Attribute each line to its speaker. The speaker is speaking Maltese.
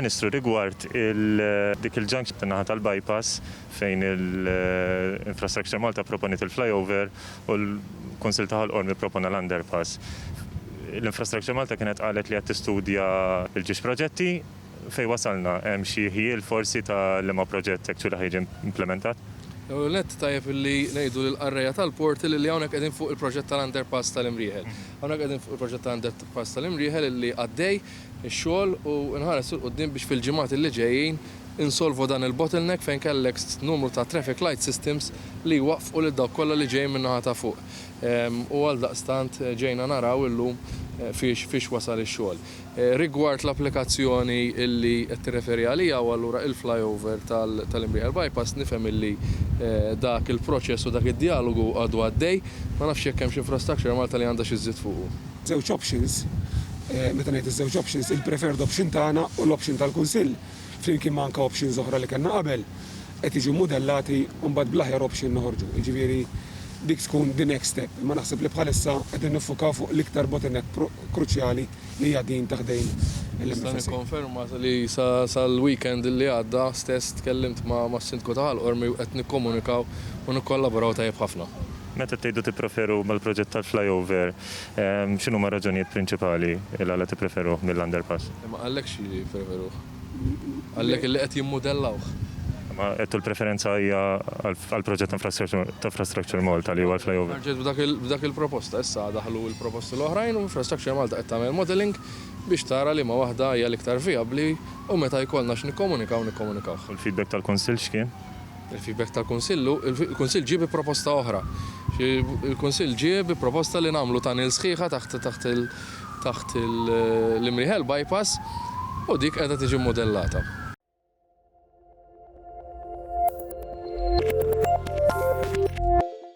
Speaker 1: Ministru, rigward dik il-ġank naħa tal-bypass fejn il-Infrastructure Malta proponit il-flyover u l-Konsil ta' Ħolqormi propona l-underpass. L-Infrastructure Malta kienet qalet li qed tistudja l-ġiex proġetti Fejn wasalna? Hemm xi ħjiel forsi ta' liema proġett hekk x'hula ħa jiġi implimentat? L-ewwel nett ttajjeb
Speaker 2: li ngħidu lill-qarrejja tal-Portal illi hawnhekk qegħdin fuq il-proġett tal-underpass tal-Imrieħel. Hawnhekk qegħdin fuq il-proġett tal-underpass tal-Imrieħel illi għaddej ix-xogħol u nħares 'il quddiem biex fil-ġimgħat illi ġejjin insolvu dan il-bottleneck fejn kellek numru ta' traffic light systems li jwaqqfu lil dawk kollha li ġejjin min-naħa ta' fuq. U għaldaqstant ġejna naraw illum fiex wasal ix-xogħol. Rigward l-applikazzjoni li qed tirreferi għaliha u allura il-flyover tal-Imrieħel Bypass, nifhem li dak il-proċess u dak id-djalogu għadu għaddej. Ma nafx jekk hemmx Infrastructure Malta li għandha xi żżid fuqu. Żewġ options.
Speaker 3: Meta ngħid iż-żewġ options, il-preferred option tagħna u l-option tal-Kunsill flimkien ma' anke options oħra li kellna qabel, qed jiġu mmudellati u mbagħad bl-aħjar option noħorġu. Jiġifieri dik tkun the next step. Imma naħseb li bħalissa qegħdin niffukaw fuq l-iktar bottleneck kruċjali li hija din ta' ħdejn il-MFSA. Nista'
Speaker 2: nikkonferma li sal-weekend li għadda stess tkellimt mas-Sindku ta' Ħal Qormi u qed nikkomunikaw u nikkollaboraw tajjeb ħafna. Meta btejtu
Speaker 1: tipproferu mal-proġett tal-flyover, X'inhuma r-raġunijiet prinċipali l-għala tippreferuh mill-underpass? Ma qallekx li
Speaker 2: jippreferuh. Qallek li qed jimmudellawh. Imma għedtu
Speaker 1: l-preferenza hija għall-proġett ta' Infrastructure Malta li huwa l-flyover. Ħarġet b'dak il-proposta.
Speaker 2: Issa daħlu l-proposti l-oħrajn u Infrastructure Malta qed tagħmel modelling biex tara liema waħda hija l-iktar vijabbli u meta jkollna x'nikkomunikaw nikkomunikawh. U l-feedback
Speaker 1: tal-Kunsill x'kien? Il-feedback
Speaker 2: tal-Kunsill hu, il-Kunsill ġie bi proposta oħra. Il-Kunsill ġie bi proposta li nagħmlu tunnel sħiħa taħt l-Imrieħel bypass u dik qiegħda tiġi mmudellata.